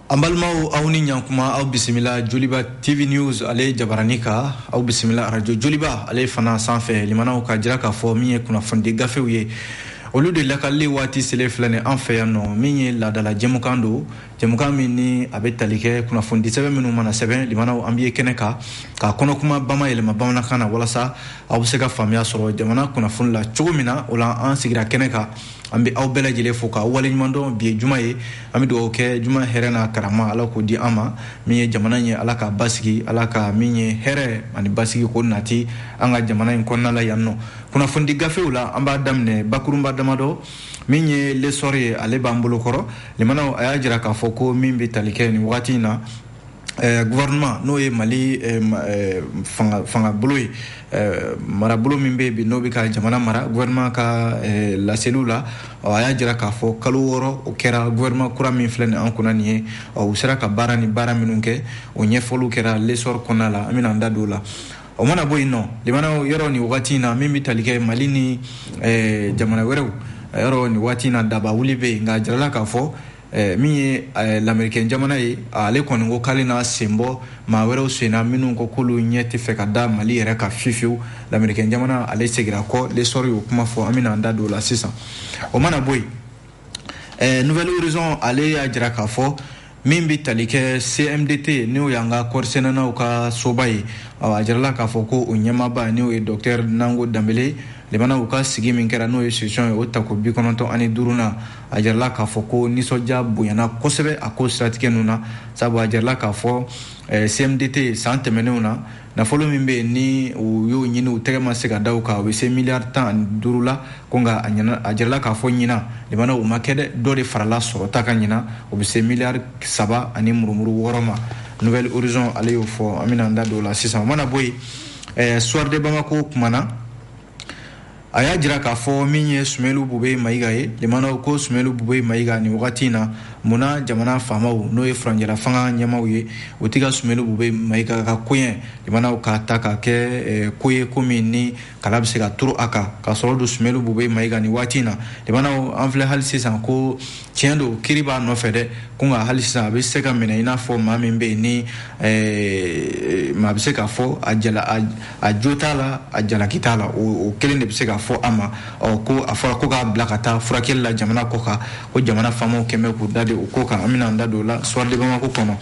an balimaw aw ni ɲankuma aw bisimila joliba tv news ale jabaranin kan aw bisimila radio joliba ale fana sanfɛ limanaw k'a jira k'a fɔ min ye kunnafonidi gafew ye olu de lakalili waati selen filɛ nin an fɛ yan nɔ min ye laadala jɛmukan don jɛmukan min ni a bɛ tali kɛ kunnafonidi sɛbɛn minnu mana sɛbɛn limanaw an bɛ kɛnɛ kan k'a kɔnɔkuma bama yɛlɛma bamanankan na walasa aw bɛ se ka faamuya sɔrɔ jamana kunnafoni la cogo min na o la an sigira kɛnɛ kan an bɛ aw bɛɛ lajɛlen fo ka waleɲumandɔn bi ye juma ye an bɛ dugawu kɛ juma hɛrɛ n'a karama ala k'o di an ma min ye jamana ye ala k'a basigi ala ka min ye hɛrɛ ani basigi ko nati an ka jamana in kɔnɔna la yan nɔ kunnafonidi gafew la an b'a daminɛ bakurunba damadɔ min ye lesɔr ye ale b'an bolo kɔrɔ limanaw a y'a jira k'a fɔ ko min bɛ tali kɛ nin wagati in na Eh, gouvernement n'o ye mali eh, eh, fangabolo ye marabolo min bɛ bi n'o bɛ ka jamana mara gouvernement ka laseliw la a y'a jira k'a fɔ kalo wɔɔrɔ o kɛra gouvernement kura min filɛ nin an kunna nin ye u sera ka baara ni baara minnu kɛ o ɲɛfɔliw kɛra lesɔr kɔnɔna la an bɛna an da don o la o mana bɔ yen nɔ limana yɔrɔ ni wagati in na min bɛ tali kɛ mali ni eh, jamana wɛrɛw eh, yɔrɔ ni wagati in na daba wuli bɛ yen nka a jirala k'a fɔ eh, min ye lamɛrikɛn jamana ye ale kɔni ko k'ale n'a sen bɔ maa wɛrɛw senna minnu ko k'olu ɲɛ tɛ fɛ ka da mali yɛrɛ kan fiyewu lamɛrikɛn jamana ale segira kɔ lesɔri y'o kuma fɔ an bɛna an da don o la sisan o mana bɔ yen nouvel horizon ale y'a jira k'a fɔ min bɛ tali kɛ cmdt n'o y'an ka kɔɔrisɛnɛnaw ka soba ye a jirala k'a fɔ ko o ɲɛmaaba n'o ye docteur nango danbele limana u ka sigi min kɛra n'o ye session ye o tako bi kɔnɔntɔn ani duruna a jirala k'a fɔ ko nisɔndiya bonyana kosɛbɛ a ko siratigɛ ninnu na sabu a jirala k'a fɔ eh, cmdt san tɛmɛnenw na nafolo min bɛ yen ni u y'o ɲini u tɛgɛ ma se ka da o kan o bɛ se miliyari tan ani duuru la ko nka a jirala k'a fɔ ɲinan limana o ma kɛ dɛ dɔ de farala sɔrɔta kan ɲinan o bɛ se miliyari saba ani murumuru wɔɔrɔ ma nouvel horizon ale y'o fɔ an bɛna an da don o la sisan o mana bɔ yen ɛɛ soir de bamako kumana a y'a jira k'a fɔ min ye sumelu bube mayiga ye limanaw ko sumelu bube mayiga nin wagati na mun na jamana faamaw n'o ye furancɛla fanga ɲɛmaaw ye o tɛ ka sumelu bube mayiga ka koɲɛ limanaw k'a ta ka kɛ eh, ko ye ko min ni kala bɛ se ka turu a kan ka sɔrɔ don sumelu bube mayiga nin wagati na limanaw an filɛ hali sisan ko tiɲɛ don kiiri b'a nɔfɛ dɛ ko nka hali sisan a bɛ se ka minɛ i n'a fɔ maa min bɛ yen ni eh, maa bɛ se k'a fɔ a jala a jo t'a la a jalaki t'a la o kelen de bɛ se ka fɔ a ma ko a fɔra ko k'a bila ka taa furakɛli la jamana kɔkan ko jamana faamaw kɛlen bɛ k'u dade o ko kan an bɛna an da don o la soir de bamako kɔnɔ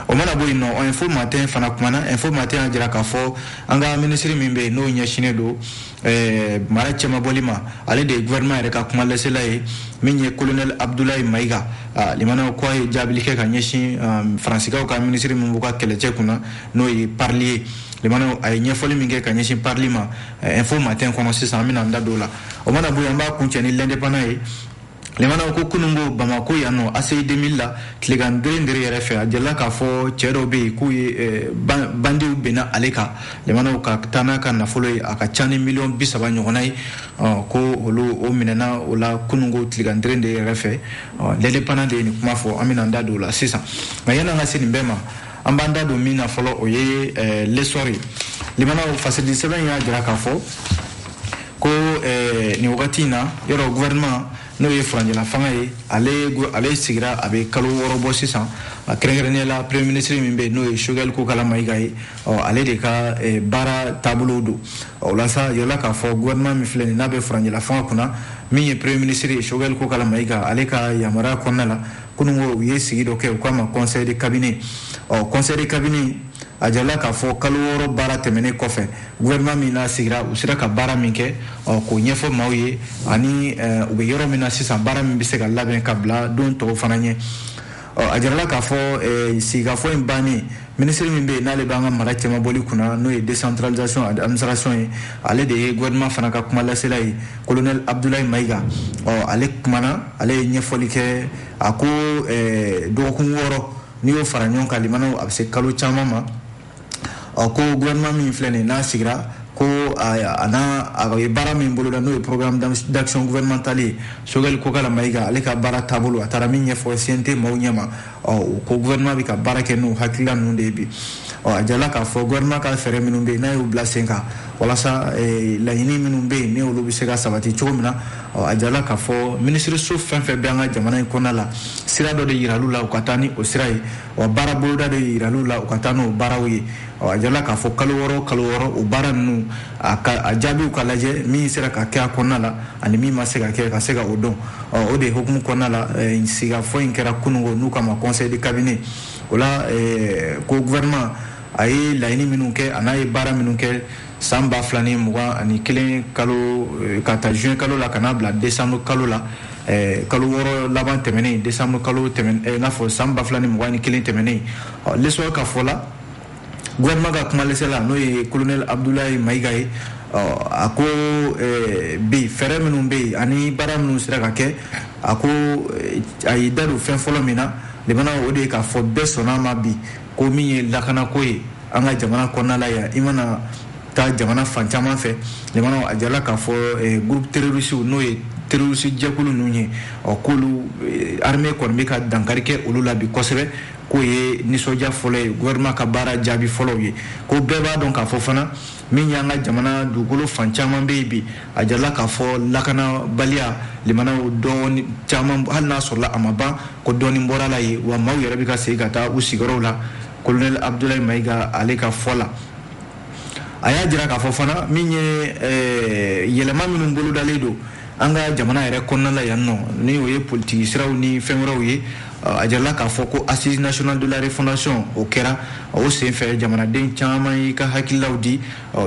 o mana bɔ yen nɔ info matin fana kumana info matin y'a jira k'a fɔ an ka minisiri min bɛ yen n'o ɲɛsinnen don Eh, mara cɛmabɔli ma ale de ye gouvernement yɛrɛ ka kuma lasela ye min ye colonel abdoulaye mayiga ah, limanaw ko a ye jaabili kɛ ka ɲɛsin ah, faransikaw ka minisiri min b'u ka kɛlɛcɛ kunna n'o ye parli ye limanaw a ye ɲɛfɔli min kɛ ka ɲɛsin parli ma eh, info matin kɔnɔ sisan an bɛna an da don o la o mana bɔ yen an b'a kuncɛ ni l'indépendant ye limanaw ko kunungo bamako yan nɔ aci 2000 la tilegan derendere yɛrɛ fɛ a jɛla k'a fɔ cɛ dɔw bɛ yen k'u ye eh, bandiw binna ale kan limanaw ka taa n'a ka nafolo ye a ka ca ni miliyɔn bisaba ɲɔgɔnna ye ko olu o minɛna o la kunungo tilegan deren de yɛrɛ fɛ l'indépendant de ye nin kuma fɔ an bɛna da don o la sisan nka yan'an ka se nin bɛɛ ma an b'an da don min na fɔlɔ o ye eh, l'essor ye limanaw fasilidi sɛbɛn y'a jira k'a fɔ ko eh, nin wagati in na yɔrɔ gouvernement n'o ye furancɛla fanga ye ale ale sigira a bɛ kalo wɔɔrɔ bɔ sisan a kɛrɛnkɛrɛnnenya la premier ministre min bɛ yen n'o ye sogɛli kokala mayiga ye ɔ ale de ka eh, baara taabolo don o la sa yɔrɔla k'a fɔ gouvernement min filɛ nin n'a bɛ furancɛla fanga kunna min ye premier ministre ye sogɛli kokala mayiga ale ka yamaruya kɔnɔna la kunungo u ye sigi dɔ kɛ u k'a ma conseil de cabinet ɔ conseil de cabinet a jirala k'a fɔ kalo wɔɔrɔ baara tɛmɛnen kɔfɛ gouvernement min n'a sigira u sera ka baara min kɛ k'o ɲɛfɔ maaw ye ani u bɛ yɔrɔ min na sisan baara min bɛ se ka labɛn ka bila don tɔw fana ɲɛ a jirala k'a fɔ sigikafɔ in bannen minisiri min bɛ yen n'ale b'an ka mara cɛmabɔli kunna n'o ye décentralisation ani administration ye ale de ye gouvernement fana ka kuma lasela ye colonel abdoulaye mayiga ɔ ale kumana ale ye ɲɛfɔli kɛ a ko dɔgɔkun wɔɔrɔ n'i y'o fara ɲɔgɔn kan limanaw a bɛ se kalo caman ma ɔ ko gouvernement min filɛ nin n'a sigira ko an'a ye baara min boloda n'o ye programme d'action gouvernementale ye sogɛli kokala mayiga ale ka baara taabolo a taara min ɲɛfɔ cnt maaw ɲɛma ɔ ko gouvernement bɛ ka baara kɛ n'o hakilila ninnu de ye bi ɔ a jala k'a fɔ gouvernement ka fɛɛrɛ minnu bɛ yen n'a y'u bila sen kan walasa laɲini minnu bɛ yen ni olu bɛ se ka sabati cogo min na ɔ a jala k'a fɔ minisiriso fɛn fɛn bɛ an ka jamana in kɔnɔna la sira dɔ de yiral'u la u ka taa ni o sira ye wa baara boloda de yiral'u la u ka taa n'o baaraw ye a jala k'a fɔ kalo wɔɔrɔ kalo wɔɔrɔ o baara ninnu a jaabiw ka lajɛ min sera ka kɛ a kɔnɔna la ani min ma se ka kɛ ka se ka o dɔn o de hukumu kɔnɔna la eh, sigafɔ in kɛra kunungo n'u k'a ma conseil de cabinet o la eh, ko gouvernement a ye laɲini minnu kɛ an'a ye baara minnu kɛ san ba fila ni mugan ani kelen kalo eh, ka ta juin kalo la ka n'a bila décembre kalo la eh, kalo wɔɔrɔ laban tɛmɛnen décembre kalo tɛmɛn eh, n'a fɔ san ba fila ni mugan ni kelen tɛmɛnen l'essor ka fɔ la gouvernement ka kuma lasela n'o ye colonel abdoulaye mayiga ye a ko bi fɛɛrɛ minnu bɛ yen ani baara minnu sera ka kɛ a ko a y'i da don fɛn fɔlɔ min na limanaw o de ye k'a fɔ bɛɛ sɔnna a ma bi ko min ye lakanako ye an ka jamana kɔnɔna la yan i mana taa jamana fan caman fɛ lamɛnnaw a jirala k'a fɔ eh, groupe terroriste n'o ye terroriste jɛkulu ninnu ye ɔ k'olu eh, armée kɔni bɛ ka dankari kɛ olu la bi kosɛbɛ k'o ye nisɔndiya fɔlɔ ye gouvernement ka baara jaabi fɔlɔw ye ko bɛɛ b'a dɔn k'a fɔ fana min y'an ka jamana dugukolo fan caman bɛ yen bi a jirala k'a fɔ lakanabaliya lamɛnnaw dɔɔni caman hali n'a sɔrɔla a ma ban ko dɔɔni bɔra a la yen wa maaw yɛrɛ bɛ ka segin ka taa u sigiyɔrɔw la kolonɛli abudulayi mayiga ale ka fɔ la a y'a jira k'a fɔ fana min ye eh, yɛlɛma minnu bolodalen don an ka jamana yɛrɛ kɔnɔna la yan nɔ ni o ye politiki siraw ni fɛn wɛrɛw ye a jirala k'a fɔ ko assises nationales de la refondation o kɛra o senfɛ jamanaden caman y'i ka hakililaw di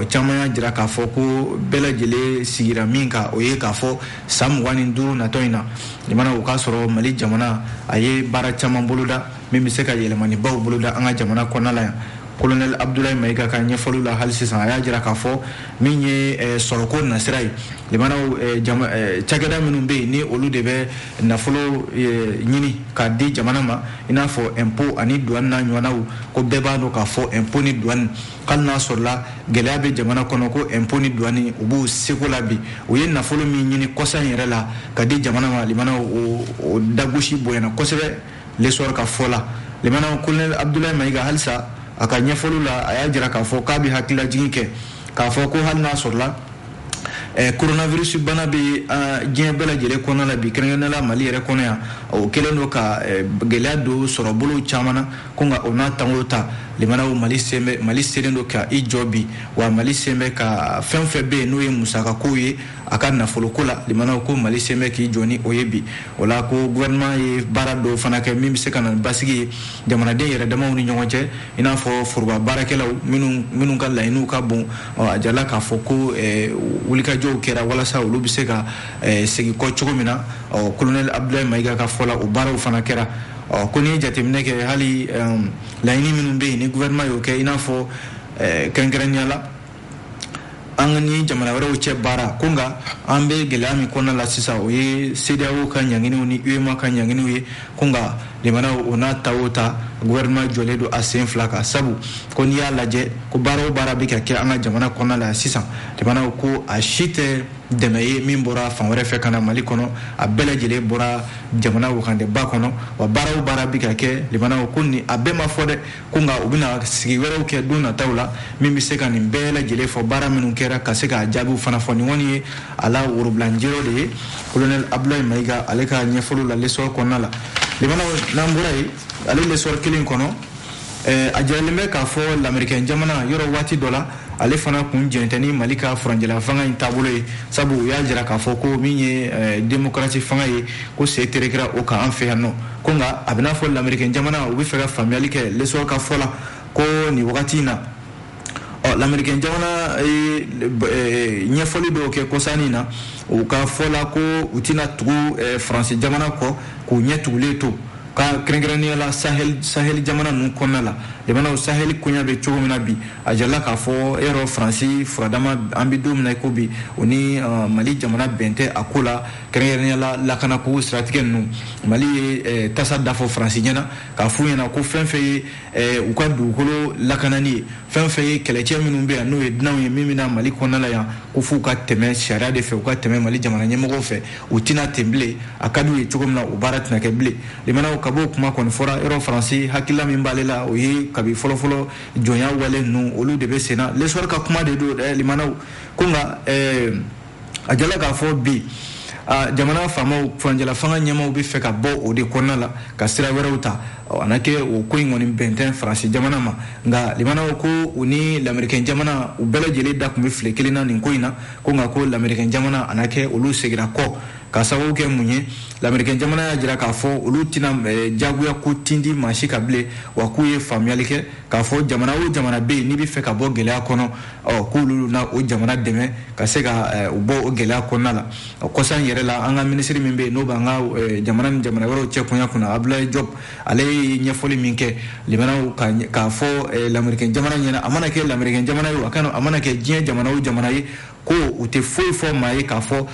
caman y'a jira k'a fɔ ko bɛɛ lajɛlen sigira min kan o ye k'a fɔ san mugan ni duuru natɔ in na lamɛnnaw o k'a sɔrɔ mali jamana a ye baara caman boloda min bɛ se ka yɛlɛmanibaw boloda an ka jamana kɔnɔna la yan kolonɛli abudulayi mayiga ka ɲɛfɔliw la hali sisan a y'a jira k'a fɔ min ye eh, sɔrɔko nasira ye lamɛnnaw eh, eh, cakɛda minnu bɛ yen ni olu de bɛ nafolo ɲini k'a di jamana ma i n'a fɔ ɛnpo ani duwani n'a ɲɔgɔnnaw ko bɛɛ b'a dɔn k'a fɔ ɛnpo ni duwani hali n'a sɔrɔla gɛlɛya bɛ jamana kɔnɔ ko ɛnpo ni duwani u b'u seko la bi u ye nafolo min ɲini kɔsa in yɛrɛ la k'a di jamana ma lamɛnnaw o dagosi bonyana kosɛbɛ L'Essor ka fɔ la lamɛnnaw kolonɛli abudulayi mayiga halisa a ka ɲɛfɔliw la a y'a jira k'a fɔ k'a bɛ hakililajigin kɛ k'a fɔ ko hali n'a sɔrɔla coronavirus eh, bana bɛ ah, diɲɛ bɛɛ lajɛlen kɔnɔna la bi kɛrɛnkɛrɛnnenya la mali yɛrɛ kɔnɔ yan o kɛlen don ka eh, gɛlɛya don sɔrɔbolow caman na ko nka o n'a ta o ta lamɛnnaw mali sen bɛ mali selen don ka i jɔ bi wa mali sen bɛ ka fɛn o fɛn bɛ yen n'o ye musakakow ye a ka nafoloko la lamɛnnaw ko mali sen bɛ k'i jɔ ni o ye bi o la ko gouvernement ye baara dɔw fana kɛ min bɛ se ka na basigi ye jamanaden yɛrɛ damaw ni ɲɔgɔn cɛ i n'a fɔ foroba baarakɛlaw minnu minnu ka laɲiniw ka bon a jirala k'a fɔ ko wulikajɔw kɛra walasa olu bɛ se ka segin kɔ cogo min na ɔ kolonɛli abudulayi mayiga ka fɔ la o baaraw fana kɛra ɔ ko n'i ye jateminɛ kɛ hali laɲini minnu bɛ yen ni gouvernement y'o kɛ i n'a fɔ kɛrɛnkɛrɛnnenya la an ni jamana wɛrɛw cɛ baara ko nka an bɛ gɛlɛya min kɔnɔna la sisan o ye CEDEAO ka ɲanginiw ni UEMOA ka ɲanginiw ye ko nka lamɛnnaw o n'a ta o ta gouvernement jɔlen don a sen fila kan sabu ko n'i y'a lajɛ ko baara o baara bɛ ka kɛ an ka jamana kɔnɔna la sisan lamɛnnaw ko a si tɛ dɛmɛ ye min bɔra fan wɛrɛ fɛ ka na mali kɔnɔ a bɛɛ lajɛlen bɔra jamana wagandeba kɔnɔ wa baara o baara bɛ ka kɛ lamɛnnaw ko ni a bɛɛ ma fɔ dɛ ko nka u bɛna sigi wɛrɛw kɛ don nataw la min bɛ se ka nin bɛɛ lajɛlen fɔ baara minnu kɛra ka se k'a jaabiw fana fɔ nin kɔni ye a la worobilanjɛyɔrɔ de ye kolonɛli abdulayi mayiga ale ka ɲɛfɔliw la lesɔrɔ kɔnɔna la lamɛnnaw n'an bɔra yen ale lesɔrɔ kelen kɔnɔ a jiralen bɛ k'a fɔ lamerikɛn jamana yɔrɔ waati dɔ la ale fana kun jɛn tɛ ni mali ka furancɛla fanga in taabolo ye sabu u y'a jira k'a fɔ ko min ye eh, demokarasi fanga ye ko sen terekera o kan an fɛ yan nɔ ko nka a bɛ n'a fɔ lamerikɛn jamana u bɛ fɛ ka faamuyali kɛ lesɔr ka fɔ la ko nin wagati in na ɔ lamerikɛn jamana ye eh, ɲɛfɔli dɔw kɛ kɔsa in na u ka fɔ la ko u tɛna tugu eh, faransi jamana kɔ k'u ɲɛ tugulen to ka kɛrɛnkɛrɛnnenya la saheli jamana ninnu kɔnɔna la jamanaw saheli koɲa bɛ cogo min na bi a jirala k'a fɔ e yɔrɔ faransi furadama an bɛ don min na i ko bi o ni uh, mali jamana bɛn tɛ a ko la kɛrɛnkɛrɛnnenya la lakanako siratigɛ ninnu mali ye eh, tasa dafɔ faransi ɲɛna k'a f'u ɲɛna ko fɛn fɛn ye eh, u ka dugukolo lakanani ye fɛn fɛn ye kɛlɛcɛ minnu bɛ yan n'o ye dunanw ye min bɛ na mali kɔnɔna la yan ko f'u ka tɛmɛ sariya de fɛ u ka tɛmɛ mali jamana ɲɛmɔgɔw fɛ u tɛ na ten bilen a ka d'u ye cogo min na o baara tɛna kɛ bilen lamɛnnaw kab'o kuma kɔni fɔra yɔrɔ faransi hakilila min b'ale la o ye kabi fɔlɔfɔlɔ jɔnya wale ninnu olu de bɛ senna lesɔri ka kuma de don lamɛnnaw ko nka a jirala k'a fɔ bi jamana faamaw furancɛla fanga ɲɛmaaw bɛ fɛ ka bɔ o de kɔnɔna la ka sira wɛrɛw ta a na kɛ o ko in kɔni bɛn tɛ faransi jamana ma nka lamɛnnaw ko u ni lamerikɛn jamana u bɛɛ lajɛlen da tun bɛ file kelen na nin ko in na ko nka ko lamerikɛn jamana a na kɛ olu segira kɔ ka sababu kɛ mun ye lamerikɛn jamana y'a jira k'a fɔ olu tɛna jagoya ko tindi maa si kan bilen wa k'u ye faamuyali kɛ k'a fɔ jamana o jamana bɛ yen n'i bɛ fɛ ka bɔ gɛlɛya kɔnɔ ɔ k'olu na o jamana dɛmɛ ka se ka eh, o bɔ o gɛlɛya kɔnɔna la kɔsa in yɛrɛ la an ka minisiri min bɛ yen n'o b'an ka eh, jamana ni jamana wɛrɛw cɛ koɲa kunna abdulayi jɔb ale ye ɲɛfɔli min kɛ lamɛnnaw k'a fɔ eh, lamerikɛn jamana ɲɛna a mana kɛ lamerikɛn jamana ye a kana a mana kɛ diɲɛ jamana o jamana ye ko u tɛ foyi fɔ maa ye k'a fɔ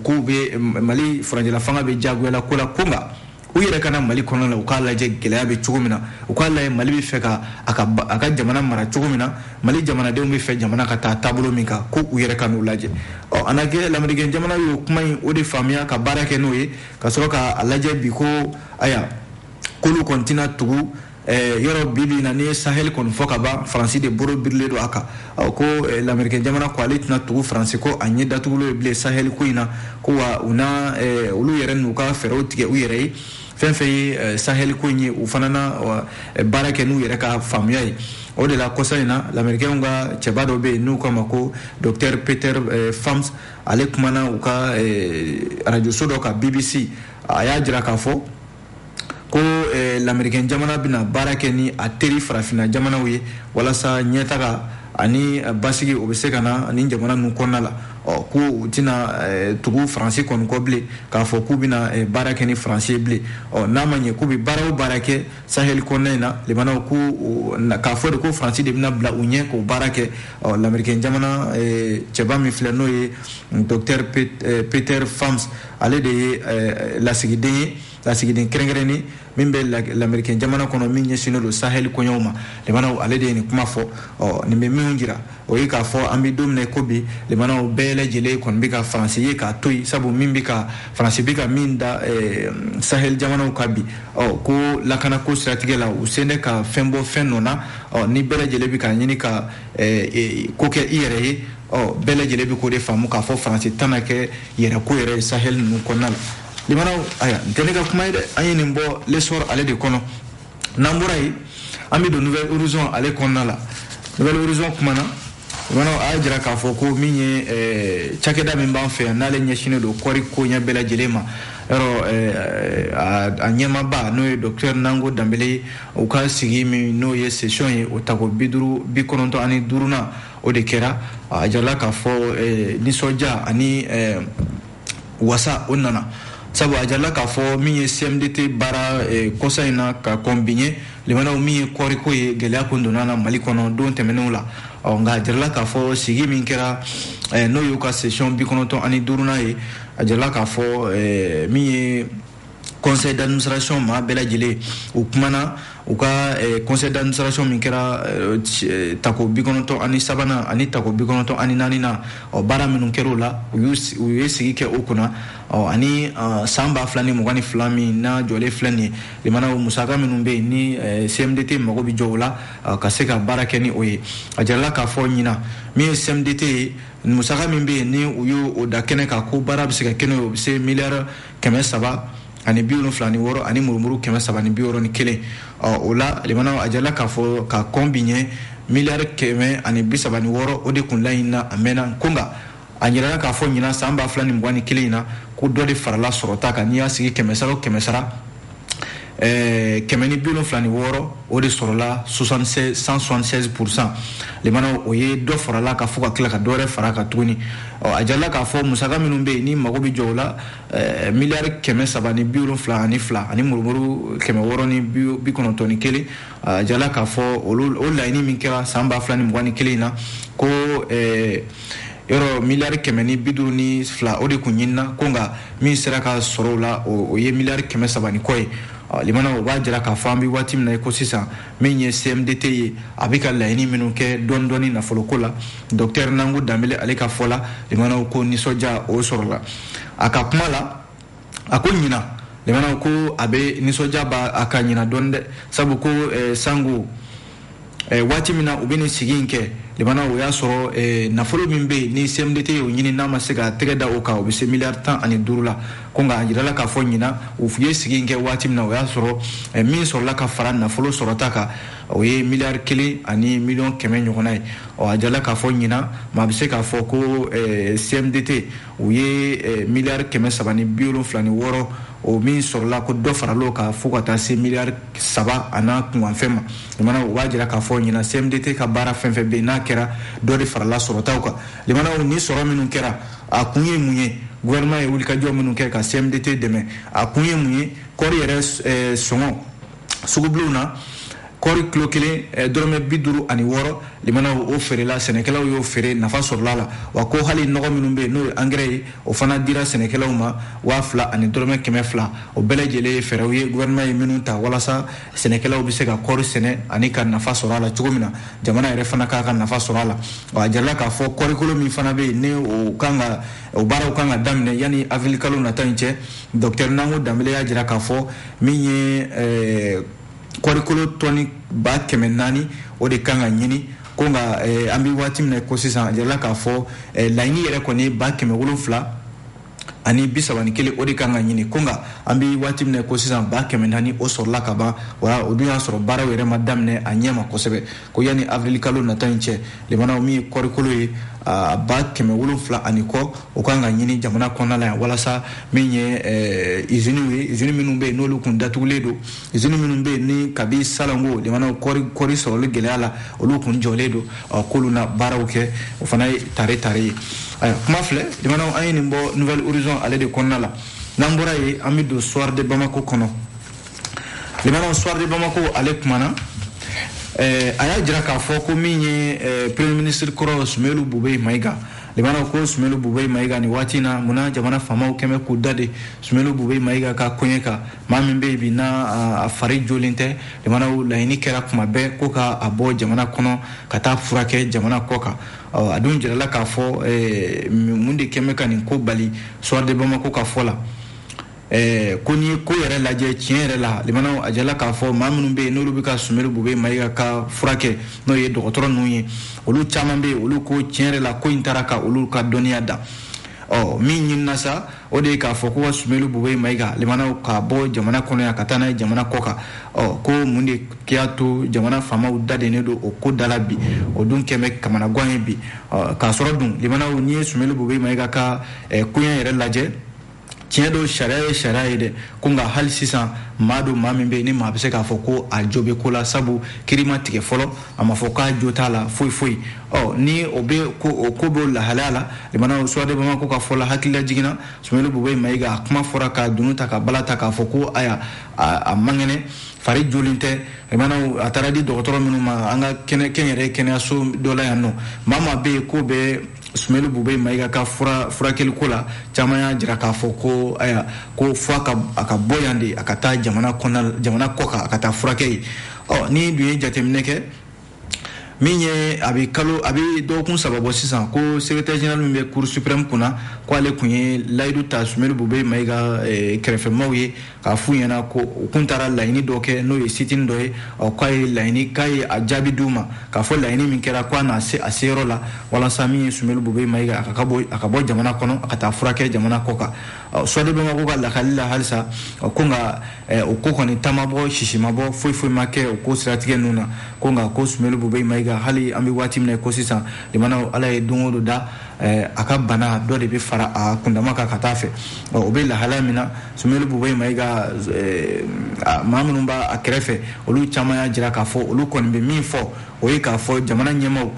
ko u bɛ mali furancɛla fanga bɛ diyagoyala ko la ko nka u yɛrɛ ka na mali kɔnɔ la u k'a lajɛ gɛlɛya bɛ cogo min na u k'a lajɛ mali bɛ fɛ ka a ka a ka jamana mara cogo min na mali jamanadenw bɛ fɛ jamana ka taa taabolo min kan ko u yɛrɛ ka n'o lajɛ ɔ a na kɛ lamerikɛn jamana y'o kuma in o de faamuya ka baara kɛ n'o ye ka sɔrɔ k'a lajɛ bi ko aya k'olu kɔni tɛna tugu Eh, yɔrɔ bi bi in na n'i ye sahel ko in fɔ ka ban faransi de boro birilen don a kan ko eh, lamerikɛn jamana ko ale tɛna tugu faransi kɔ a ɲɛ datugulen bilen sahel ko in na ko wa u na eh, olu yɛrɛ n'u ka fɛɛrɛw tigɛ u yɛrɛ ye fɛn fɛn ye sahel ko in ye u fana na baara kɛ n'u yɛrɛ ka faamuya ye o de la kɔsa in na lamerikɛnw ka cɛba dɔ bɛ yen n'u k'a ma ko docteur peter pham ale kumana u ka arajoso dɔ kan bbc a y'a jira k'a fɔ ko eh, lamerikɛn jamana bɛna baara kɛ ni a teri farafinna jamanaw ye walasa ɲɛtaga ani eh, basigi o bɛ se ka na nin jamana ninnu kɔnɔna la ɔ ko u tɛna eh, tugu faransi kɔni kɔ bilen k'a fɔ k'u bɛna baara kɛ ni faransi ye bilen ɔ n'a ma ɲɛ k'u bɛ baara o baara kɛ saheli kɔnɔna in na lamɛnnaw ko k'a fɔ de ko faransi de bɛna bila u ɲɛ k'o baara kɛ ɔ lamerikɛn jamana cɛba min filɛ n'o ye docteur peter pham ale de ye eh, lasigiden ye lasigiden kɛrɛnkɛrɛnnen min bɛ lamerikɛn jamana kɔnɔ min ɲɛsinnen don sahɛli koɲɛw ma lamɛnnaw ale de ye nin kuma fɔ ɔ nin bɛ min jira o ye k'a fɔ an bɛ don min ko bi lamɛnnaw bɛɛ lajɛlen kɔni bɛ ka faransi ye k'a to yen sabu min bɛ ka faransi bɛ ka min da eh, sahɛli jamanaw kan bi ɔ ko lakanako siratigɛ la u sen bɛ ka fɛn bɔ fɛn nɔ na ɔ ni bɛɛ lajɛlen bɛ k'a ɲini ka eh, ko kɛ i yɛrɛ ye ɔ bɛɛ lajɛlen bɛ k'o de faamu k'a fɔ faransi tɛna kɛ yɛrɛko yɛrɛ ye sahɛli ninnu kɔnɔna la lamɛnnaw ayi nin tɛ ne ka kuma ye dɛ an ye nin bɔ l'essor ale de kɔnɔ n'an bɔra yen an bɛ don nouvel horizon ale kɔnɔna la nouvel horizon kuma na lamɛnnaw a y'a jira k'a fɔ ko min ye eh, cakɛda min b'an fɛ yan n'ale ɲɛsinnen don kɔɔri koɲɛ bɛɛ lajɛlen ma yɔrɔ eh, a a ɲɛmaaba n'o ye docteur nango dembélé ye u ka sigi min n'o ye session ye o tako bi duuru bi kɔnɔntɔn ani duurunan o de kɛra a jirala k'a fɔ nisɔndiya ani wasa o nana sabu a jirala k'a fɔ min ye cmdt baara kɔsa in na ka kɔn bi ɲɛ lamɛnnaw min ye kɔɔriko ye gɛlɛya kun donna a na mali kɔnɔ don tɛmɛnenw la ɔ nka a jirala k'a fɔ sigi min kɛra n'o y'u ka session bi kɔnɔntɔn ani duurunan ye a jirala k'a fɔ min ye conseil d'administration maa bɛɛ lajɛlen u kumana u ka eh, conseil d'administration min kɛra eh, eh, tako bi kɔnɔntɔn ani sabanan ani tako bi kɔnɔntɔn ani naaninan na ɔ baara minnu kɛra o la u ye sigi kɛ o kunna ɔ ani san ba fila ni mugan ni fila min n'a jɔlen filɛ nin ye lamɛnnaw musaka minnu bɛ yen ni cmdt mago bɛ jɔ o la ka se ka baara kɛ ni o ye a jirala k'a fɔ ɲinan min ye cmdt ye musaka min bɛ yen ni u y'o o da kɛnɛ kan ko baara bɛ se ka kɛ n'o ye o bɛ se miliyari kɛmɛ saba ani bi wolonfila ni wɔɔrɔ ani murumuru kɛmɛ saba ni bi wɔɔrɔ ni kelen ɔ o la lamɛnnaw a jirala k'a fɔ ka kɔn bi ɲɛ miliyari kɛmɛ ani bi saba ni wɔɔrɔ o de kun laɲinina lamɛnnaw ko nka a jirala k'a fɔ ɲinan san ba fila ni mugan ni kelen in na ko dɔ de farala sɔrɔta kan n'i y'a sigi kɛmɛ sara o kɛmɛ sara Eh, kɛmɛ ni bi wolonfila ni wɔɔrɔ o de sɔrɔla 176 pourcent lamɛnnaw o ye dɔ farala a kan fo ka tila ka dɔ wɛrɛ fara a kan tuguni a jirala k'a fɔ musaka minnu bɛ yen ni mago bɛ jɔ o la eh, miliyari kɛmɛ saba ni bi wolonfila ani fila ani murumuru kɛmɛ wɔɔrɔ ni bi kɔnɔntɔn ni kelen a jirala k'a fɔ o laɲini min kɛra san ba fila ni mugan ni kelen in na ko eh, yɔrɔ miliyari kɛmɛ ni bi duuru ni fila o de kun ɲinina ko nka min sera ka sɔrɔ o la o ye miliyari kɛmɛ saba ni kɔ ye limana o b'a jira k'a fɔ an bɛ waati min na ko sisan min ye cmdt ye a bɛ ka laɲini minnu kɛ dɔɔni dɔɔni nafoloko la dɔkitɛri nango danbele ale ka fɔ la limanaw ko nisɔndiya o sɔrɔla a ka kuma la a ko ɲinan lemanaw ko a bɛ nisɔndiya b'a a kan ɲinan dɔɔni dɛ sabu ko eh, sango eh, waati min na u bɛ nin sigi in kɛ lemanaw o y'a sɔrɔ eh, nafolo min bɛ yen ni cmdt y'o ɲini n'a ma se ka tɛgɛ da o kan o bɛ se miliyari tan ani duuru la ko nka a jirala k'a fɔ ɲinan u ye sigi in kɛ waati min na o y'a sɔrɔ eh, min sɔrɔla ka fara nafolo sɔrɔta kan o ye miliyari kelen ani miliyɔn kɛmɛ ɲɔgɔnna ye ɔ a jirala k'a fɔ ɲinan maa bɛ se k'a fɔ ko eh, cmdt u ye miliyari kɛmɛ saba ni bi wolonfila ni wɔɔrɔ o min sɔrɔla ko dɔ faral'o kan fo ka taa se miliyari saba an'a kunkanfɛn ma limana o b'a jira k'a fɔ ɲinan cmdt ka baara fɛn fɛn bɛ n'a kɛra dɔ de farala sɔrɔtaw kan limanaw nin sɔrɔ minnu kɛra a kun ye mun ye gouvernement ye wulikajɔ minnu kɛ ka cmdt dɛmɛ a kun ye mun ye kɔɔri yɛrɛ sɔngɔ sugubilenw na kɔɔri kilo kelen eh, dɔrɔmɛ bi duuru ani wɔɔrɔ limanaw o feerela sɛnɛkɛlaw y'o feere nafa sɔrɔla a la wa ko hali nɔgɔ minnu bɛ yen n'o ye angɛrɛ ye o fana dira sɛnɛkɛlaw ma waa fila ani dɔrɔmɛ kɛmɛ fila o bɛɛ lajɛlen ye fɛɛrɛw ye gouvernement ye minnu ta walasa sɛnɛkɛlaw bɛ se ka kɔɔri sɛnɛ ani ka nafa sɔrɔ a la cogo min na jamana yɛrɛ fana k'a ka nafa sɔrɔ a la wa a jirala k'a fɔ kɔɔrikolo min fana bɛ yen ni o kan ka o baaraw kan ka daminɛ yanni avril kalo nata in cɛ dɔkitɛri nango danbele y'a jira k'a fɔ min ye eh, kɔrikolo tɔni ba kɛmɛ naani o de kan ka ɲini ko nka eh, an bɛ waati min na ko sisan a jirala k'a fɔ eh, laɲini yɛrɛ kɔni ba kɛmɛ wolonfila ani bi saba ni kelen o de kan ka ɲini ko nka an bɛ waati min na ko sisan ba kɛmɛ naani o sɔrɔla ka ban wa o dun y'a sɔrɔ baaraw yɛrɛ ma daminɛ a ɲɛ ma kosɛbɛ ko yanni avrilikalo nata in cɛ limanaw min ye kɔrikolo ye a ba kɛmɛ wolonfila ani kɔ o kan ka ɲini jamana kɔnɔna la yan walasa min ye eh, iziniw ye izini minnu bɛ yen n'olu kun datugulen don izini minnu bɛ yen ni kabi salon ko limanaw kɔri kɔri sɔrɔli gɛlɛya la olu kun jɔlen don k'olu na baaraw kɛ o fana ye tare tare ye ayiwa kuma filɛ limanaw an ye nin bɔ nouvel horizon ale de kɔnɔna la n'an bɔra yen an bɛ don soir de bamako kɔnɔ limana soir de bamako ale kumana eh, a y'a jira k'a fɔ ko min ye eh, premier ministre kɔrɔ sumelu bube mayiga limana ko sumelu bube mayiga nin waati na munna jamana faamaw kɛlen bɛ k'u da de sumelu bube mayiga ka koɲɛ kan maa min bɛ bi n'a a fari jolen tɛ limanaw laɲini kɛra kuma bɛɛ ko ka a bɔ jamana kɔnɔ ka taa furakɛ jamana kɔ kan a dun jirala k'a fɔ eh, mun de kɛlen bɛ ka nin ko bali soir de bamako ka fɔ la Eh, ko n'i ye ko yɛrɛ lajɛ tiɲɛ yɛrɛ la limanaw a jirala k'a fɔ maa minnu bɛ yen n'olu bɛ ka sumelu bube mayiga ka furakɛ n'o ye dɔgɔtɔrɔ ninnu ye olu caman bɛ yen olu ko tiɲɛ yɛrɛ la ko in taara ka olu ka dɔnniya dan ɔ min ɲinina sa o de ye k'a fɔ ko ka sumelu bube mayiga limanaw ka bɔ jamana kɔnɔ yan ka taa n'a ye jamana kɔ kan ɔ ko mun de y'a to jamana faamaw dadennen don o ko da la bi o dun kɛlen bɛ kamanagan ye bi k'a sɔrɔ dun limanaw n'i ye sumelu bube mayiga ka eh, koɲɛ yɛrɛ lajɛ tiɲɛ don sariya ye sariya ye dɛ ko nka hali sisan maa don maa min bɛ yen ni maa bɛ se k'a fɔ ko a jo bɛ ko la sabu kiri ma tigɛ fɔlɔ a ma fɔ k'a jo t'a la foyi foyi ɔ ni o bɛ ko o ko b'o lahalaya la limanaw soir de bamako ka fɔ la hakililajigin na sumelu bube mayiga a kuma fɔra ka dunu ta ka bala ta k'a fɔ ko aya a man kɛnɛ fari jolen tɛ limanaw a taara di dɔgɔtɔrɔ minnu ma an ka kɛnɛ kɛnyɛrɛ kɛnɛyaso dɔ la yan nɔ maa maa bɛ yen k'o bɛ sumelu bube mayiga ka fura furakɛliko la caman y'a jira k'a fɔ ko aya ko fo a ka a ka bɔ yan de a ka taa jamana kɔnɔ jamana kɔ kan a ka taa furakɛ yen ɔ n'i dun ye jateminɛ kɛ min ye a bɛ kalo a bɛ dɔgɔkun saba bɔ sisan ko secrétaire général min bɛ cour suprême kunna ko ale kun ye layidu ta sumelu bube mayiga eh, kɛrɛfɛmaaw ye k'a f'u ɲɛna ko u kun taara laɲini dɔ kɛ n'o ye sitini dɔ ye ɔ k'a ye laɲini k'a ye a jaabi d'u ma k'a fɔ laɲini min kɛra k'a na se a seyɔrɔ la walasa min ye sumelu bube mayiga a ka bɔ a ka bɔ jamana kɔnɔ a ka taa furakɛ jamana kɔ kan soir de bamako ka lakali la halisa ko nka o ko kɔni ta ma bɔ sisi ma bɔ foyi foyi ma kɛ o ko siratigɛ ninnu na ko nka ko sumelu bube mayiga hali an bɛ waati min na ko sisan limanaw ala ye don o don da a ka bana dɔ de bɛ fara a kundama kan ka taa fɛ o bɛ lahala min na Sumelu bube mayiga maa minnu b'a kɛrɛfɛ olu caman y'a jira k'a fɔ olu kɔni bɛ min fɔ o ye k'a fɔ jamana ɲɛmaa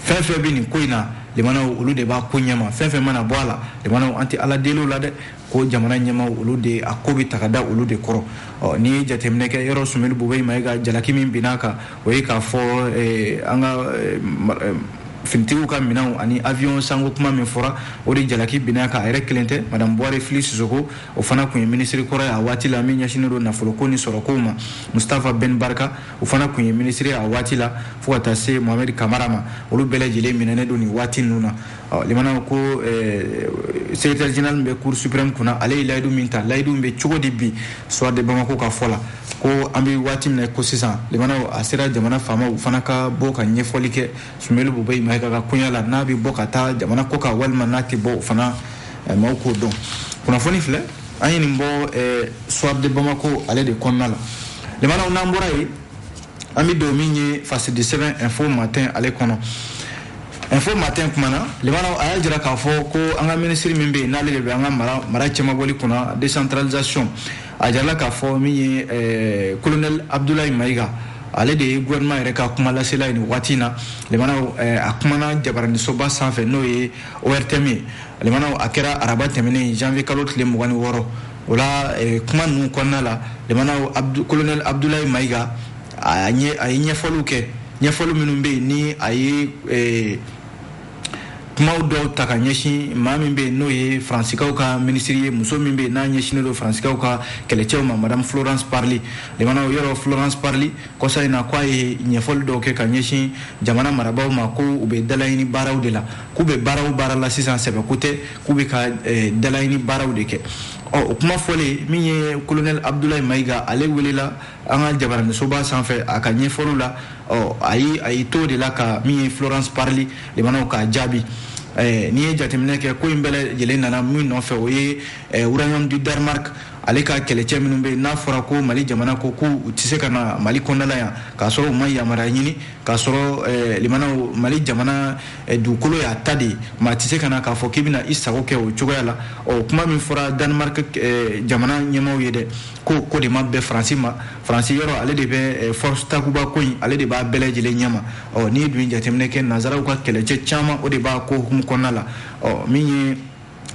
fɛn fɛn bɛ nin ko in na olu de b'a ko ɲɛma fɛn fɛn mana bɔ a la an tɛ ala deli la dɛ ko jamana ɲɛmaaw olu de a ko bɛ ta ka da olu de kɔrɔ ɔ n'i ye jateminɛ kɛ yɔrɔ sumelu bube mayiga jalaki min binna a kan o ye k'a fɔ eh, an ka eh, eh, finitigiw ka minɛnw ani avion sanko kuma min fɔra o de jalaki binna a kan a yɛrɛ kelen tɛ madame buware fili sisoko o fana kun ye minisiri kɔrɔ ye a waati la min ɲɛsinnen don nafoloko ni sɔrɔkow ma mustafa ben barka o fana kun ye minisiri a waati la fo ka taa se mohamɛdi kamara ma olu bɛɛ lajɛlen minɛnen don nin waati ninnu na ɔ limanaw ko eh, secrétaire général min bɛ cour suprême kunna ale ye layidu min ta layidu min bɛ cogo di bi soir de bamako ka fɔ la ko an bɛ waati min na ko sisan limanaw a sera jamana faamaw fana ka bɔ ka ɲɛfɔli kɛ sumelu bube mayiga ka koɲa la n'a bɛ bɔ ka taa jamana kɔ kan walima n'a tɛ bɔ o fana eh, maaw k'o dɔn kunnafoni filɛ an ye nin bɔ eh, soir de bamako ale de kɔnɔna la limanaw n'an bɔra yen an bɛ don min ye fasidi sɛbɛn info matin ale kɔnɔ info matin kumana limanaw a y'a jira k'a fɔ ko an ka minisiri min bɛ yen n'ale de bɛ an ka mara mara cɛmabɔli kunna décentralisation a jirala k'a fɔ min ye eh, colonel abdulayi mayiga ale de ye gouvernement yɛrɛ ka kuma lasela ye nin waati in na limanaw eh, a kumana jabaranisoba sanfɛ n'o ye ortm ye limanaw a kɛra araba tɛmɛnen janvier kalo tile mugan ni wɔɔrɔ o la eh, kuma ninnu kɔnɔna la limanaw kolonɛli abudulayi mayiga a ye ɲɛfɔliw kɛ ɲɛfɔli minnu bɛ yen ni a ye eh, kumaw dɔw ta ka ɲɛsin maa min bɛ yen n'o ye faransikaw ka minisiri ye muso min bɛ yen n'a ɲɛsinnen don faransikaw ka kɛlɛcɛw ma madame florence parly limanaw yɔrɔ florence parly kɔsa in na k'a ye ɲɛfɔli dɔw kɛ ka ɲɛsin jamana marabaaw ma ko u bɛ dalaɲini baaraw de la k'u bɛ baaraw baara la sisan sɛbɛko tɛ k'u bɛ ka eh, dalaɲini baaraw de kɛ ɔ o kuma fɔlen min ye kolonɛli abudulayi mayiga ale welela an ka jabaranisoba sanfɛ a ka ɲɛfɔliw la ɔ a ye a y'i to de la ka min ye florence parly limanaw k'a jaabi eh, n'i ye jateminɛ kɛ ko in bɛɛ lajɛlen nana min nɔfɛ o ye eh, royaume du danemark ale ka kɛlɛcɛ minnu bɛ yen n'a fɔra ko mali jamana ko ko u tɛ se ka na mali kɔnɔna la yan k'a sɔrɔ u ma yamaruya ɲini k'a sɔrɔ eh, limanaw mali jamana Eh, dugukolo y'a ta de ye maa tɛ se ka na k'a fɔ k'i bɛna i sago kɛ o cogoya la ɔ kuma min fɔra danemark eh, jamana ɲɛmaaw ye dɛ ko ko de ma bɛn faransi ma faransi yɔrɔ ale de bɛ eh, force takuba ko in ale de b'a bɛɛ lajɛlen ɲɛma ɔ n'i dun ye jateminɛ kɛ nanzaraw ka kɛlɛcɛ caman o de b'a ko hukumu kɔnɔna la ɔ min ye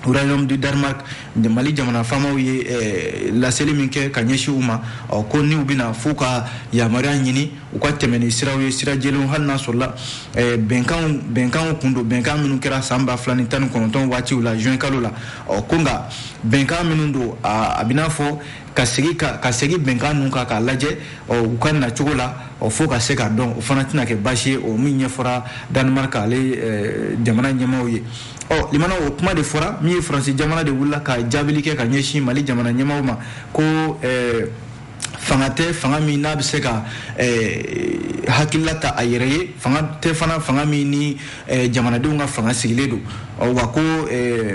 royaume du Danemark Mali jamana faamaw ye eh, laseli min kɛ ka ɲɛsin u ma ɔ ko ni u bɛna f'u ka yamaruya ɲini u ka tɛmɛ ni siraw ye sira jɛlenw hali n'a sɔrɔla eh, bɛnkanw bɛnkanw kun don bɛnkan minnu kɛra san ba fila ni tan ni kɔnɔntɔn waatiw la juin kalo la ɔ ko nka bɛnkan minnu don a bɛ n'a fɔ ka segin ka ka segin bɛnkan ninnu kan k'a lajɛ ɔ u ka nacogo la ɔ fo ka se k'a dɔn o fana tɛna kɛ baasi ye o min ɲɛfɔra Danemark ale eh, jamana ɲɛmaaw ye. ɔ limana o kuma de fɔra min ye faransi jamana de wulila ka jaabili kɛ ka ɲɛsin mali jamana ɲɛmaaw ma ko eh, fanga tɛ fanga min n'a bɛ se ka eh, hakilila ta a yɛrɛ ye fanga tɛ fana fanga min ni eh, jamanadenw ka fanga sigilen don ɔ wa ko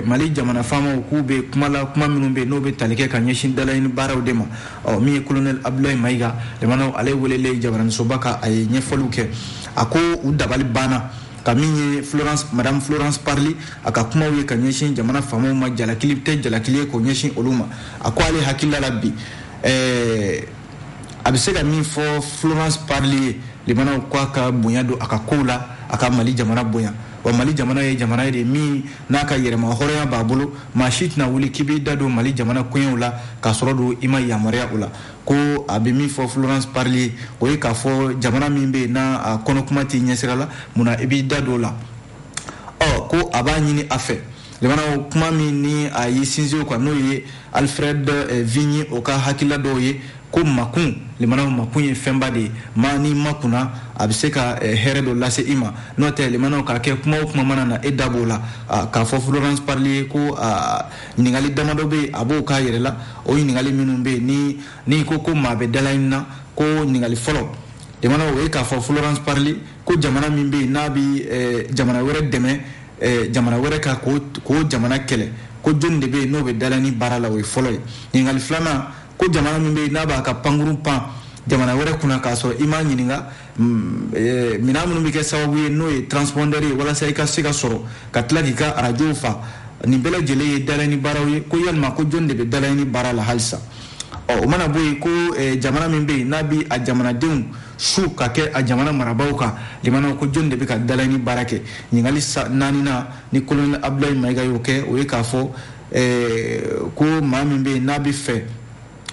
mali jamana faamaw k'u bɛ kuma la kuma minnu bɛ yen n'o bɛ tali kɛ ka ɲɛsin dalaɲini baaraw de ma ɔ min ye kolonɛli abudulayi mayiga limanaw ale welelen jabaranisoba kan a ye ɲɛfɔliw kɛ a ko u dabali banna ka min ye florence madame florence parly a ka kumaw ye ka ɲɛsin jamana faamaw ma jalakili tɛ jalakili ye k'o ɲɛsin olu ma a ko ale hakilila la bi ɛɛ a bɛ se ka min fɔ florence parly ye limanaw ko a ka bonya don a ka kow la a ka mali jamana bonya wa mali jamana ye jamana ye de min n'a ka yɛrɛma hɔrɔnya b'a bolo maa si tɛna wuli k'i b'i da don mali jamana koɲɛw la k'a sɔrɔ dun i ma yamaruya o la ko a bɛ min fɔ florence parly ye o ye k'a fɔ jamana min bɛ yen n'a a kɔnɔkuma t'i ɲɛsira la munna i b'i da don o la ɔ ko a b'a ɲini a fɛ lamɛnnaw kuma min ni a y'i sinsin o kan n'o ye alfred eh, vigny o ka hakilila dɔw ye ko makun lamɛnnaw makun ye fɛnba de ye maa n'i makunna a bɛ se ka eh, hɛrɛ dɔ lase i ma n'o tɛ lamɛnnaw k'a kɛ kuma o kuma mana na e da b'o la ah, k'a fɔ florence parly ye ko ah, ɲininkali damadɔ bɛ yen a b'o k'a yɛrɛ la o ɲininkali minnu bɛ yen ni n'i ko ko maa bɛ dalaɲini na ko ɲininkali fɔlɔ lamɛnnaw o ye k'a fɔ florence parly ko jamana min bɛ yen n'a bɛ eh, jamana wɛrɛ dɛmɛ eh, jamana wɛrɛ ka k'o jamana kɛlɛ ko jɔni de bɛ yen n'o bɛ dalaɲini baara la o ye fɔlɔ ye ɲininkali filanan ko jamana min bɛ yen n'a b'a ka pankurun pan jamana wɛrɛ kunna k'a sɔrɔ i m'a ɲininka Mm, eh, minɛn minnu bɛ kɛ sababu ye n'o ye transpondeur ye walasa i ka se ka sɔrɔ ka tila k'i ka arajow fa nin bɛɛ lajɛlen ye dalaɲini baaraw ye ko yalima ko jɔni de bɛ dalaɲini baara la halisa ɔ o mana bɔ yen ko eh, jamana min bɛ yen n'a bɛ a jamanadenw su ka kɛ a jamana marabaaw kan lamɛnnaw ko jɔni de bɛ ka dalaɲini baara kɛ ɲininkali naaninan ni kolonɛli abdulayi mayiga y'o kɛ o ye k'a fɔ eh, ko maa min bɛ yen n'a bɛ fɛ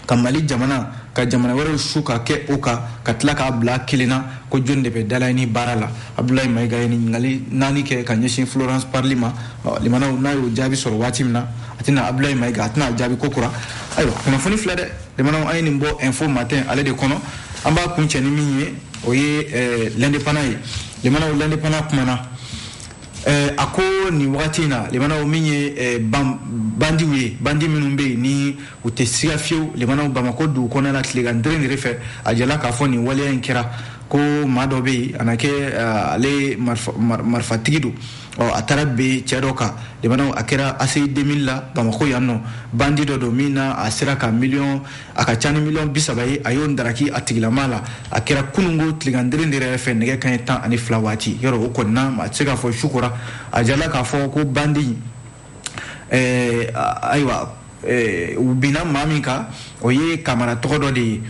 ka mali jamana ka jamana wɛrɛw su ka kɛ o kan ka tila k'a bila kelen na ko jɔni de bɛ dalaɲini baara la abdulayi mayiga ye ɲininkali naani kɛ ka ɲɛsin florence parly ma lamɛnnaw n'a y'o jaabi sɔrɔ waati min na a tɛna abdulayi mayiga a tɛna jaabi kokura ayiwa kunnafoni filɛ dɛ lamɛnnaw an ye nin bɔ info matin ale de kɔnɔ an b'a kuncɛ ni min ye o ye eh, l'indépendant ye lamɛnnaw l'indépendant kumana eh, a ko nin wagati in na lamɛnnaw min ye eh, bandiw ye bandi minnu bɛ yen ni u tɛ siga fiyewu lamɛnnaw bamakɔ dugu kɔnɔna tilegan dere dere fɛ a jɛla k'a fɔ nin waleya in kɛra ko maa dɔ bɛ yen a na kɛ eh, ale marifatigi don ɔ a taara bin cɛ dɔ kan lamɛnnaw a kɛra aci 2000 la bamakɔ yan nɔ bandi dɔ don min na a sera ka miliyɔn a ka ca ni miliyɔn bi saba ye a y'o daraki a tigilama la a kɛra kununko tilegan dere dere yɛrɛ fɛ nɛgɛ kanɲɛ tan ani fila waati yɔrɔ o kɔnina a tɛ se k'a fɔ su kora a jɛla k'a fɔ ko bandi ɛɛ ayiwa ɛɛ u binna maa min kan o ye kamara tɔgɔ dɔ de ye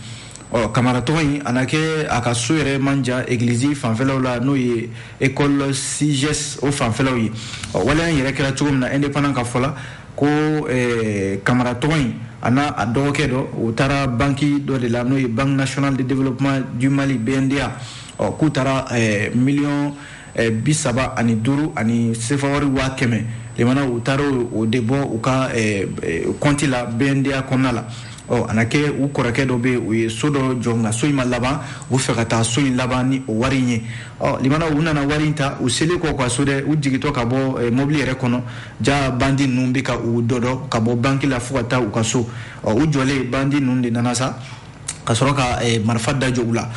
ɔ kamara tɔgɔ in a na kɛ a ka so yɛrɛ man jan egilizi fanfɛlaw la n'o ye ekɔli siges o fanfɛlaw ye ɔ waleya in yɛrɛ kɛra cogo min na indépendant ka fɔ la ko ɛɛ kamara tɔgɔ in a n'a a dɔgɔkɛ dɔ u taara banki dɔ de la n'o ye banque nationale de développement du mali bnda ɔ k'u taara ɛɛ miliyɔn Eh, bi saba ani duuru ani sefawari waa kɛmɛ limana u taara o de bɔ u ka eh, eh, kɔnti la BNDA kɔnɔna la ɔ a na kɛ u kɔrɔkɛ dɔ bɛ u ye so dɔ jɔ nka so in ma laban u fɛ ka taa so in laban ni o wari in ye ɔ limana u nana wari in ta u selen kɔ ka so dɛ u jigitɔ ka bɔ mobili yɛrɛ kɔnɔ ja bandi ninnu bɛ ka u dɔdɔ ka bɔ banki la fo ka taa u ka so ɔ u jɔlen bandi ninnu de nana sa ka sɔrɔ ka eh, marifa da jɔ u la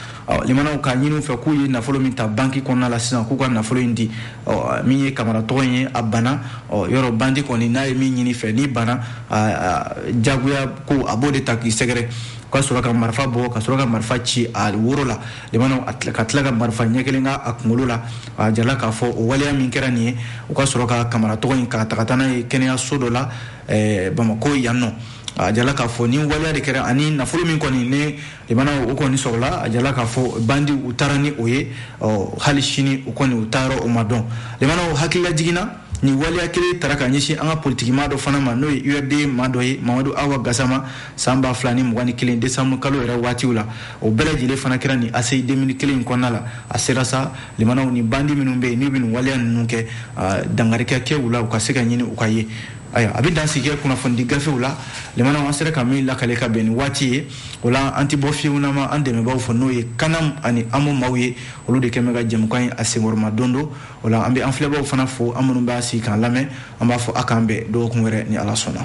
limanaw k'a ɲini u fɛ k'u ye nafolo min ta banki kɔnɔna la sisan k'u ka nafolo in di min ye kamara tɔgɔ in ye a bana yɔrɔ bandi kɔni n'a ye min ɲini fɛ n'i bana jagoya ko a b'o de ta k'i sɛgɛrɛ ka sɔrɔ ka marifa bɔ ka sɔrɔ ka marifa ci a woro la limanaw ka tila ka marifa ɲɛ kelen kɛ a kunkolo la a jala k'a fɔ o waleya min kɛra nin ye u ka sɔrɔ ka kamara tɔgɔ in k'a ta ka taa n'a ye kɛnɛyaso dɔ la eh, bamako yan nɔ a jala k'a fɔ nin waleya de kɛra ani nafolo min kɔni ne limana o kɔni sɔrɔla a jala k'a fɔ bandiw taara ni o ye hali sini u kɔni u taa yɔrɔ o ma dɔn limanaw hakilila jiginna nin waleya kelen tara ka ɲɛsin an ka politikimaa dɔ fana ma n'o ye urd maa dɔ ye mamadu awa gasama san ba fila ni mugan ni kelen desanburu kalo yɛrɛ waatiw la o bɛɛ lajɛlen fana kɛra nin aseyi demili kelen in kɔnɔna la a sera sa limanaw ni bandi minnu bɛ yen n'u bɛ nin waleya ninnu kɛ dankari ka kɛ u la u ka se ka ɲini u ka ye ayiwa an bɛ dan sigi kɛ kunnafonidi gafew la limanaw an sera ka min lakale ka bɛn ni waati ye o la an tɛ bɔ fiyewu n'an ma an dɛmɛbaaw fo n'o ye kanam ani amo maaw ye olu de kɛ bɛ ka jɛmukan in a senkɔrɔma don don o la an bɛ an filɛbaaw fana fo aw minnu b'aw sigi k'an lamɛn an b'a fɔ a k'an bɛn dɔgɔkun wɛrɛ ni ala sɔnna